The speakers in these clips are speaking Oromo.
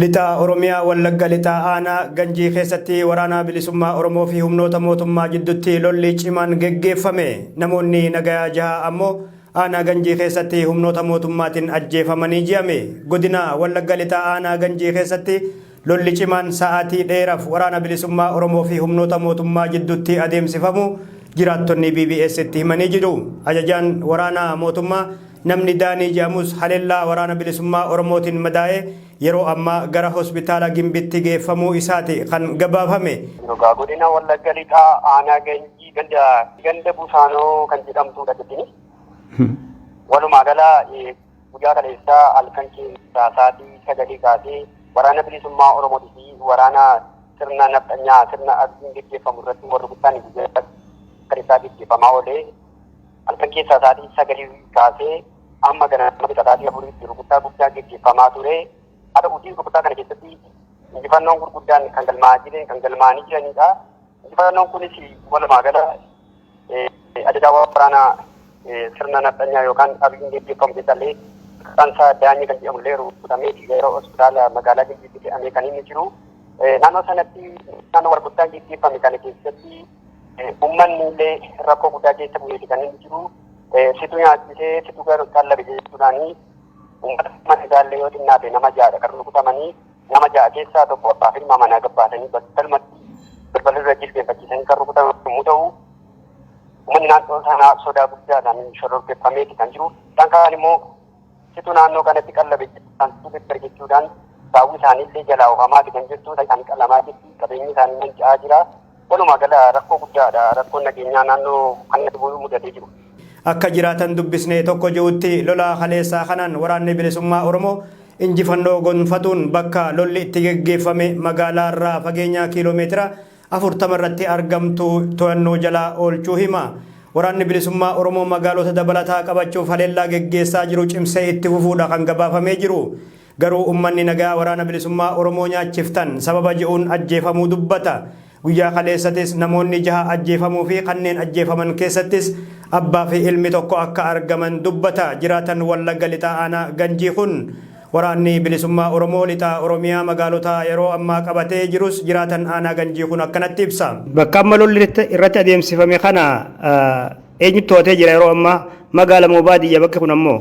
Lixa Oromiyaa Wallagga Lixaa Aanaa Ganjii keessatti waraanaa bilisummaa Oromoo fi humnoota mootummaa jiddutti lolli cimaan geggeeffame. Namoonni nagayaa jaha ammoo aanaa Ganjii keessatti humnoota mootummaatiin ajjeefamanii ji'ame. Godina Wallagga Lixaa Aanaa Ganjii keessatti Lolli cimaan sa'aatii dheeraf Waraana Bilisummaa Oromoo fi humnoota mootummaa jiddutti adeemsifamu jiraattonni BBS'tti himanii jiru. Ajajaan waraana mootummaa namni Daanii jedhamus halellaa Waraana Bilisummaa Oromootin madaa'ee yeroo ammaa gara Hospitaala Gimbitti geeffamuu isaati kan gabaafame. Dhugaa godina Wallagga Lixaa aanaa Ganjii ganda Busaanoo kan jedhamtuudha jettini. Walumaa gala Guyyaa kaleessaa halkan keessaa saatii sagalii kaasee Waraana Bilisummaa Oromooti fi waraana sirna nafxanyaa sirna Abiyyiin geggeeffamu irratti wal rukuttaan guyyaa kaleessaa geggeeffamaa oolee halkan keessaa saatii sagalii kaasee amma ganama saatii afuriitti rukuttaa guddaa geggeeffamaa ture. Haa ta'uutii rukuttaa kana keessatti injifannoon gurguddaan kan galmaa'aa jireen kan galmaa'anii jiranidha. Injifannoon kunis walumaa gala ajajaa waraanaa sirna nafxanyaa yookaan abiyyiin gaggeeffamu keessallee maqaan isaa daanyee kan jedhamu illee rukutamee gara hospitaala magaalaa Gimbiitti fe'amee kan inni jiru. Naannoo sanatti naannoo walgurtaan gaggeeffame kana keessatti uummanni illee rakkoo guddaa keessa bu'eeti kan inni jiru. Situ nyaachisee situ qallabe jechuudhaani uummata mana isaallee yoo xinnaate nama jaadha kan rukutamanii Nama ja'a keessaa tokko abbaa fi ilmaa manaa gabbaasanii battalumatti balbala dura jilbeenfachiisanii kan rukutan yommuu ta'u, uummanni naannoo sanaa sodaa guddaadhaan shororkeeffameeti kan jiru. Isaan kaan immoo situ naannoo kanatti qallabe kan situ jechuudhaan saawwi isaanii illee jalaa oofamaati kan jirtu. Isaanii qalamaa jirti. Qabeenyi isaanii manca'aa jira. Walumaa gala rakkoo guddaa dha rakkoon nageenyaa naannoo kanatti mudatee jiru. Akka jiraatan dubbisne tokko je'utti lola kaleessaa kanaan waraanni bilisummaa Oromoo injifannoo gonfatuun bakka lolli itti geggeeffame magaalaa irraa fageenya kiiloo meetira 40 irratti argamtu toyannoo jala oolchuu hima. Waraanni bilisummaa Oromoo magaalota dabalataa qabachuuf haleellaa geggeessaa jiru cimsee itti fufuu dha kan gabaafamee jiru. Garuu ummanni nagaa Waraana Bilisummaa Oromoo nyaachiftan sababa je'uun ajjeefamuu dubbata. Guyyaa kaleessatis namoonni jaha ajjeefamuu fi kanneen ajjeefaman keessattis abbaa fi ilmi tokko akka argaman dubbata jiraatan Wallagga Lixaa Aanaa Ganjii kun. Waraanni Bilisummaa Oromoo Lixa Oromiyaa magaalota yeroo ammaa qabatee jirus jiraatan Aanaa Ganjii kun akkanatti ibsa. Bakka amma lolli irratti adeemsifame kana eenyutu to'atee jira yeroo ammaa? Magaala moo baadiyya bakki kun ammoo?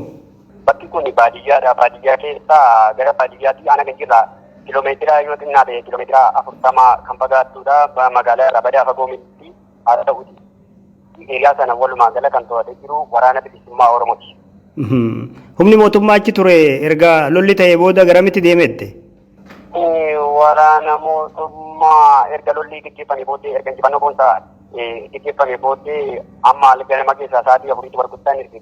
Bakki kun baadiyyaadha. Baadiyyaa keessa gara baadiyyaatti aanaa kan jirra. Kiiloomeetira yoo xinnaa ta'e kiiloomeetira afurtama kan fagaattudha. Magaalaa irraa badaa fagoo miti. Haa ta'uti hiriyaa sana walumaa gala kan to'atee jiru waraana bilisummaa Oromooti. Humni mootummaa achi ture erga lolli ta'ee booda garamitti deemette? Waraana mootummaa erga lolli gaggeeffamee booddee erga injifannoo boonsaa gaggeeffamee booddee amma ganama keessaa sa'aatii afuriitti warguttaan erge.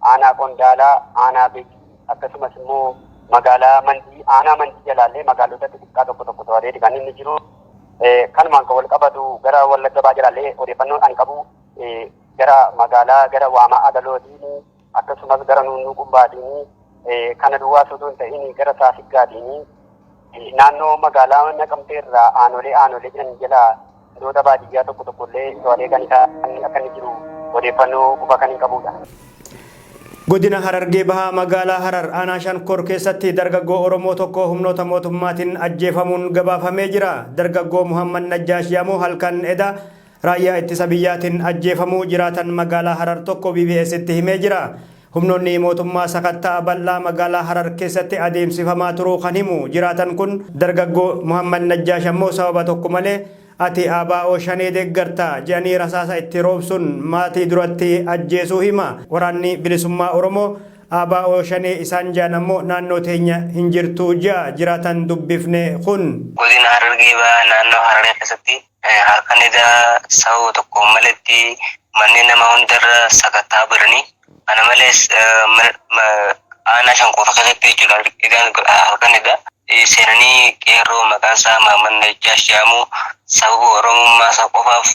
aanaa Qondaalaa, aanaa Begii akkasumas immoo magaalaa Mandii, aanaa Mandii jalaallee magaalota xixiqqaa tokko tokko to'ateeti kan inni jiru. Kanumaan kan wal qabatu gara Wallagga Bahaa jalaallee odeeffannoon ani qabu gara magaalaa gara Waamaa Agalootiin akkasumas gara Nuunnuu Qumbaatiin kana duwwaas utuu hin ta'in gara Saasiggaatiin Naannoo magaalaa Naqamtee irraa aanolee aanolee jiran jala gandoota baadiyyaa tokko tokko illee to'atee kan isaa akka inni jiru odeeffannoo quba kan hin qabuudha. Godina Harargee Bahaa magaalaa Harar aanaa Shankor keessatti dargaggoo Oromoo tokko humnoota mootummaatiin ajjeefamuun gabaafamee jira. Dargaggoo Muhammad Najjaash Yamoo halkan eda raayyaa ittisa biyyaatiin ajjeefamuu jiraatan magaalaa Harar tokko BBS'tti himee jira. Humnoonni mootummaa sakatta'a bal'aa magaalaa Harar keessatti adeemsifamaa turuu kan himu jiraatan kun, dargaggoo Muhammad Najjaash ammoo sababa tokko malee ati ABO Shanee deeggarta jedhanii rasaasa itti roobsuun maatii duratti ajjeesuu hima. Waraanni Bilisummaa Oromoo ABO Shanee isaan jedhan ammoo naannoo teenya hin jirtu jedha jiraataan dubbifne kun. Godina Harargee Bahaa naannoo Hararii keessatti Halkan edaa sababa tokkoon maletti manneen namaa hundarra sakattaa baranii kana malees aanaa shan qofa keessatti jechuudha egaan halkan edaa seenanii qeerroo maqaan isaa Maamman Najjaash jedhamu sababa oromummaa isaa qofaaf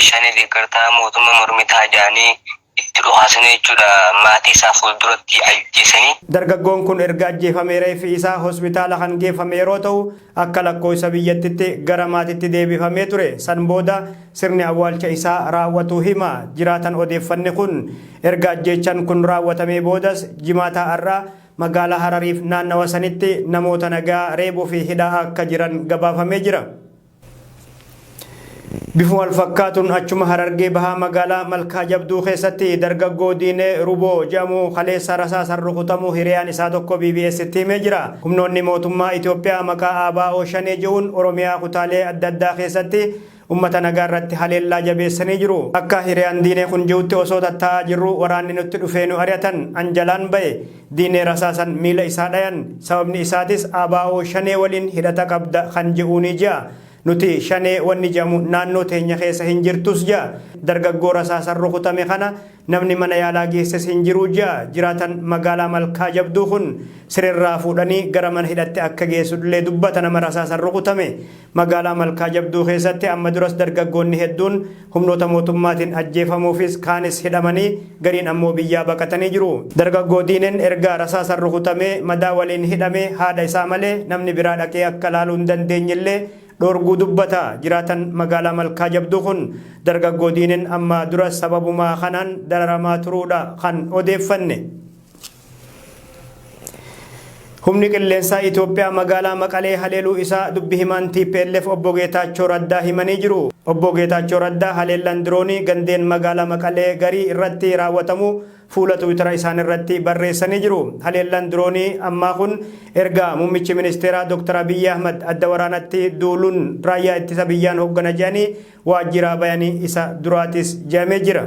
shanii deeggartaa mootummaa mormitaa jedhanii itti dhukaasanii jechuudha maatii isaa fuulduratti ajjeesanii. Dargaggoon kun erga ajjeefamee reeffi isaa hospitaala kan geeffame yeroo ta'u, akka lakkooysa biyyattitti gara maatitti deebifamee ture. San booda sirni awwaalcha isaa raawwatuu hima jiraatan odeeffanne kun. Erga ajjeechan kun raawwatamee boodas Jimaata har'aa magaalaa Harariif naannawa sanitti namoota nagaa reebuu fi hidhaa akka jiran gabaafamee jira. Bifuma walfakkaatuun achuma Harargee Bahaa magaalaa Malkaa Jabduu keessatti dargaggoo Diinee Ruboo jedhamu kaleessa rasaasaan rukutamuu hiriyaan isaa tokko BBS'tti himee jira. Humnoonni mootummaa Itoophiyaa maqaa ABO Shanee jedhuun Oromiyaa kutaalee adda addaa keessatti ummata nagaa irratti haleellaa jabeessanii jiru. Akka hiriyaan Diinee kun jedhutti osoo tattaa'aa jirruu waraanni nutti dhufee nu ari'atan. An jalaan ba'e. Diinee rasaasan miila isaa dhayan. Sababni isaatis ABO shanee waliin hidhata qabda kan je'uunii je'a. Nuti shanee wanni je'amu naannoo teenya keessa hin jirtus je'a. Dargaggoo rasaasan rukutame kana namni mana yaalaa geesses hin jiru je'a jiraatan magaalaa Malkaa Jabduu kun. Sireerraa fuudhanii gara mana hidhatti akka geessudhlee dubbata nama rasaasan rukutame. Magaalaa Malkaa Jabduu keessatti amma duras dargaggoonni hedduun humnoota mootummaatiin ajjeefamuufis kaanis hidhamanii gariin ammoo biyyaa baqatanii jiru. Dargaggoo Diineen erga rasaasan rukutamee madaa waliin hidhame haadha isaa malee namni biraa dhaqee akka laaluu hin dandeenyellee dhoorguu dubbata jiraataan magaalaa Malkaa Jabduu kun. Dargaggoo Diineen ammaa duras sababuma kanaan dararamaa turuudha kan odeeffanne. Humni qilleensaa Itoophiyaa magaalaa Maqalee haleeluu isaa dubbi himaan TPLF obbo Geetaachoo Raddaa himanii jiru. Obbo Geetaachoo Raddaa haleellaan diroonii gandeen magaalaa Maqalee garii irratti raawwatamuu fuula Tiwiitara isaaniirratti barreessanii jiru. Haleellaan diroonii ammaa kun erga muummichi ministeeraa Dr. Abiyyi Ahmad adda waraanatti duuluun raayyaa ittisa biyyaan hoggana jedhanii waajjiraa bayanii isa duraatis jedhamee jira.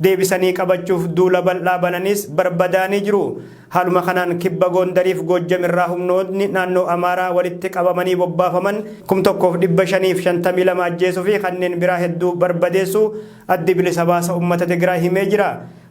deebisanii qabachuuf duula bal'aa bananiis barbadaa'anii jiru. Haaluma kanaan Kibba Goondariif Goojjam irraa humnootni naannoo Amaaraa walitti qabamanii bobbaafaman kum 1 fi 552 ajjeesuu fi kanneen biraa hedduu barbadeessuu Addi Bilisa Baasa Ummata Tigraay himee jira.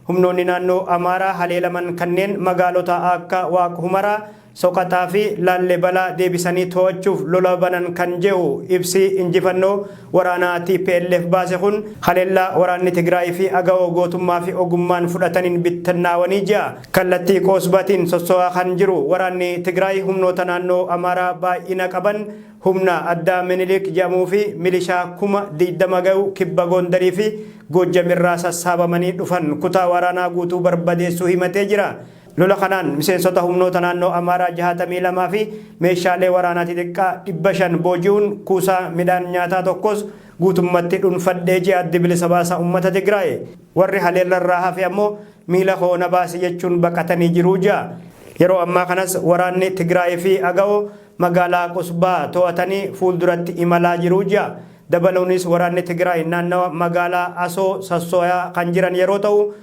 Humnoonni naannoo Amaaraa haleelaman kanneen magaalota aakka Waaq Humaraa, Soqaxaa fi Laallebalaa deebisanii to'achuuf lola banan kan je'u ibsi injifannoo waraanaa tplf baase kun, haleellaa waraanni Tigraay fi Agawoo gootummaa fi ogummaan fudhataniin bittannaawanii jia. Kallattii Qoosbatiin sosso'aa kan jiru waraanni Tigraay humnoota naannoo Amaaraa baay'ina qaban humna addaa Minilik je'amuu fi milishaa kuma 20 gayu kibba Goondarii fi Goojjam irraa sassaabamanii dhufan kutaa waraanaa guutuu barbadeessuu himatee jira. Lola kanaan miseensota humnoota naannoo Amaaraa 62 fi meeshaalee waraanaa xixiqqaa 500 booji'uun kuusaa midhaan nyaataa tokkos guutummatti dhunfadhee ji'a Addi Bilisa Baasaa Ummata Tigraay. Warri haleellarraa hafe ammoo miila koo na baasi jechuun baqatanii jiru ja'a. Yeroo ammaa kanas waraanni Tigraay fi Agawoo magaalaa Qusbaa to'atanii fuulduratti imalaa jiru ja'a. Dabaluunis waraanni Tigraay naannawa magaalaa Asoo sassooyaa kan jiran yeroo ta'u,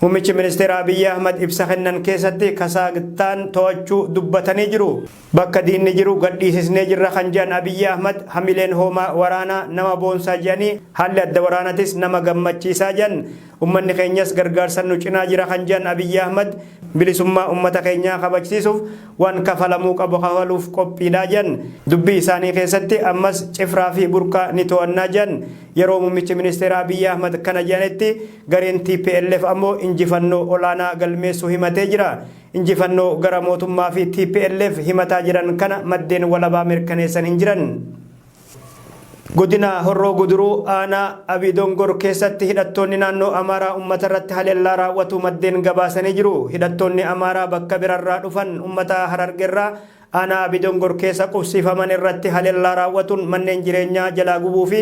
Muummichi Ministeeraa Abiyyi Ahmad ibsa kennan keessatti Kasaagtaan to'achuu dubbatanii jiru. Bakka diinni jiru gadhiisisnee jirra kan jedhan Abiyyi Ahmad hamileen hoomaa waraanaa nama boonsaa jedhanii haalli adda waraanatis nama gammachiisaa jedhan. Ummanni keenyas gargaarsan nu cinaa jira kan jedhan Abiyyi Ahmad bilisummaa ummata keenyaa kabajsiisuuf waan kafalamuu qabu kafaluuf qophiidha jedhan. Dubbii isaanii keessatti ammas Cifraa fi Burqaa ni to'annaa jedhan. Yeroo Muummichi Ministeeraa Abiyyi Ahmad kana jedhanitti Gareen tplf ammoo injifannoo olaanaa galmeessuu himatee jira. Injifannoo gara mootummaa fi tplf himataa jiran kana maddeen walabaa mirkaneessan hin jiran. Godina Horroo Guduruu aanaa Abii Dongor keessatti hidhattoonni naannoo Amaaraa ummata irratti haleellaa raawwatu maddeen gabaasanii jiru. Hidhattoonni Amaaraa bakka birarraa dhufan ummata Harargerraa Aanaa Abidongor keessa qubsiifaman irratti halellaa raawwatuun manneen jireenyaa jalaa gubuu fi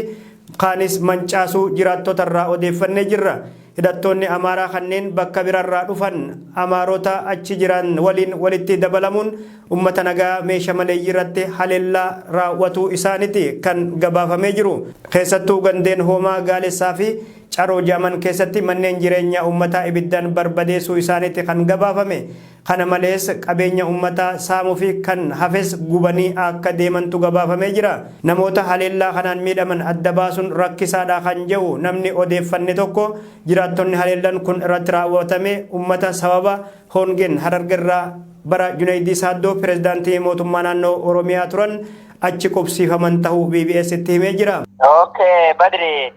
kaanis mancaasuu jiraattota irraa odeeffannee jirra. Hidhattoonni Amaaraa kanneen bakka birarraa dhufan Amaarota achi jiran waliin walitti dabalamuun uummata nagaa meesha maleeyyiirratti halellaa raawwatuu isaaniti kan gabaafamee jiru. Keessattuu gandeen Hoomaa Gaalessaa fi Caroo Jaaman keessatti manneen jireenyaa uummataa ibiddaan barbadeessuu isaaniti kan gabaafame. Kana malees qabeenya ummataa saamuu fi kan hafes gubanii akka deemantu gabaafamee jira. Namoota haleellaa kanaan miidhaman adda baasuun rakkisaadha kan jehu namni odeeffanne tokko, jiraattonni haleellan kun irratti raawwatame ummata sababa hoongeen Harargerraa bara Juneeydii Saaddoo pirezidaantii mootummaa naannoo Oromiyaa turan achi qubsiifaman tahuu BBStti himee jira. Ok Badri!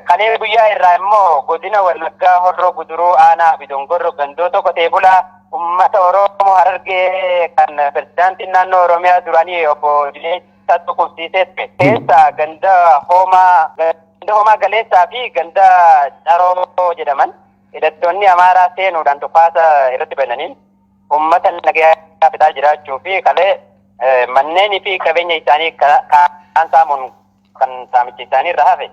Kalee guyyaa irraa immoo godina Wallaggaa Horroo Guduruu aanaa fi Dongorro gandoota qotee bulaa uummata Oromoo Harargee kan pirezidaantiin naannoo Oromiyaa duraanii obbo Dineessaa Tuqubsiisee ture. Keessaa ganda Hoomaa ganda Hoomaa Galeessaa fi ganda Caroo jedhaman hidhattoonni Amaaraa seenuudhaan dhukaasa irratti bananiin uummata nagayaa fixaa jiraachuu fi kalee manneenii fi qabeenya isaanii kaan saamuun kan saamichi isaanii irra hafe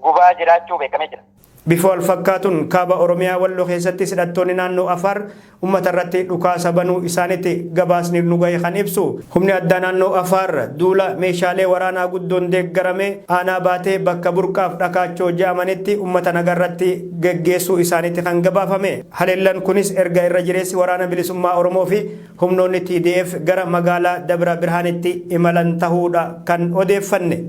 gubaa jiraachuu beekamee jira. Bifoo alfakkaatuun kaaba Oromiyaa Wallo keessatti hidhattoonni naannoo Afaar ummata irratti dhukaasa banuu isaanitti gabaasni nu gahe kan ibsu. Humni addaa naannoo Afaar duula meeshaalee waraanaa guddoon deeggarame aanaa baatee bakka burqaaf dhakaachoo ja'amanitti ummata nagaa irratti geggeessuu isaanitti kan gabaafame. Haleellan kunis erga irra jireessi waraana bilisummaa Oromoo fi Humnoonni TDF gara magaalaa Dabra Birhaanitti imalan tahuudha kan odeeffanne.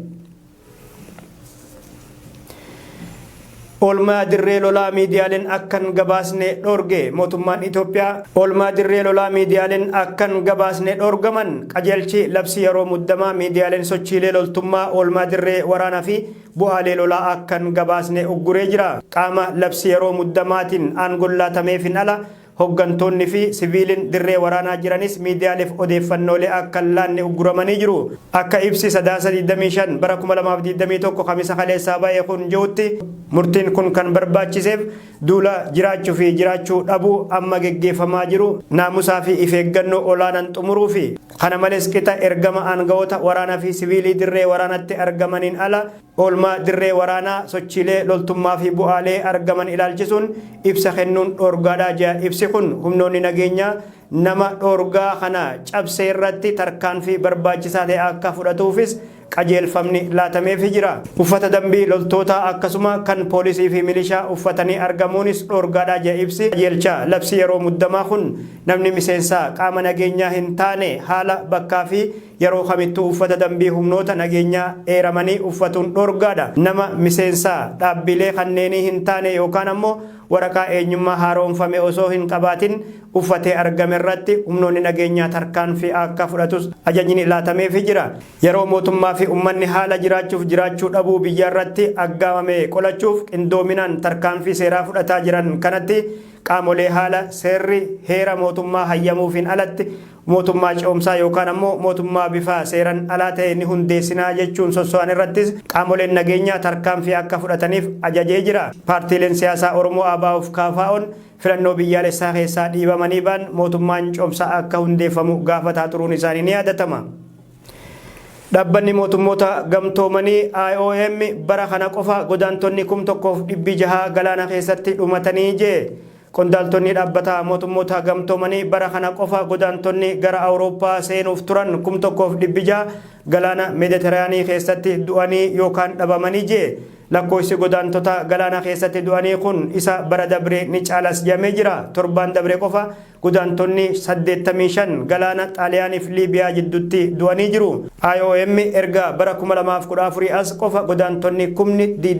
Oolmaa dirree lolaa miidiyaaleen akkan gabaasne dhoorge mootummaan Itoophiyaa oolmaa dirree lolaa miidiyaaleen akkan gabaasne dhoorgaman qajeelchi labsii yeroo muddamaa miidiyaaleen sochiilee loltummaa oolmaa dirree waraanaa fi bu'aalee lolaa akkan gabaasne ugguree jira. Qaama labsii yeroo muddamaatiin aangoon laatameefin ala Hoggantoonni fi siviiliin dirree waraanaa jiranis miidiyaaleef odeeffannoolee akka hin laanne ugguramanii jiru. Akka ibsi Sadaasa 25 bara 2021 Kamisa kaleessaa ba'e kun je'utti, murtiin kun kan barbaachiseef duula jiraachu fi jiraachuu dhabuu amma geggeeffamaa jiru naamusaa fi ifeeggannoo olaanan xumuruufi. Kana malees qixa ergama aanga'oota waraana fi siviilii dirree waraanatti argamaniin ala, Oolmaa dirree waraanaa, sochiilee loltummaa fi bu'aalee argaman ilaalchisuun ibsa kennuun dhoorgaadha jedha ibsi kun. Humnoonni nageenyaa nama dhoorgaa kana cabse irratti tarkaanfii barbaachisaa ta'e akka fudhatuufis qajeelfamni laatameefii jira. Uffata dambii loltootaa akkasuma kan poolisii fi milishaa uffatanii argamuunis dhoorgaadha jedha ibsi qajeelcha labsii yeroo muddamaa kun. Namni miseensa qaama nageenyaa hin taane haala, bakkaa fi Yeroo kamittuu uffata dambii humnoota nageenyaa eeramanii uffatuun dhoorgaadha. Nama miseensa dhaabbiilee kanneenii hin taane yookaan ammoo waraqaa eenyummaa haaroomfame osoo hin qabaatin uffatee argame irratti humnoonni nageenyaa tarkaanfii akka fudhatus ajajni laatameefii jira. Yeroo mootummaa fi ummanni haala jiraachuuf jiraachuu dhabuu biyyaa irratti aggaamame qolachuuf qindoominaan tarkaanfii seeraa fudhataa jiran kanatti qaamolee haala seerri heera mootummaa hayyamuufiin alatti Mootummaa ce'umsaa yookaan ammoo mootummaa bifa seeran alaa ta'e ni hundeessinaa jechuun sosso'an irrattis qaamoleen nageenyaa tarkaanfii akka fudhataniif ajajee jira. Paartiileen siyaasaa Oromoo ABOf KFOn filannoo biyyaalessaa keessaa dhiibamanii ba'an mootummaan cehumsaa akka hundeeffamu gaafataa turuun isaanii ni yaadatama. Dhabbanni Mootummoota Gamtoomanii, IOM, bara kana qofa godaantonni kum tokkoof dhibbi jahaa galaana keessatti dhumatanii jee. Qondaaltonni Dhaabbata Mootummoota Gamtoomanii bara kana qofa godaantonni gara Awurooppaa seenuuf turan 1,600 galaana Meediteraanii keessatti du'anii yookaan dhabamanii jie. Lakkooysi godaantota galaana keessatti du'anii kun isa bara dabree ni caalas jedhamee jira. Torbaan dabre qofa godaantonni 85 galaana Xaaliyaaniif Liibiyaa jiddutti du'anii jiru. IOM erga bara 2014 as qofa godaantonni kumni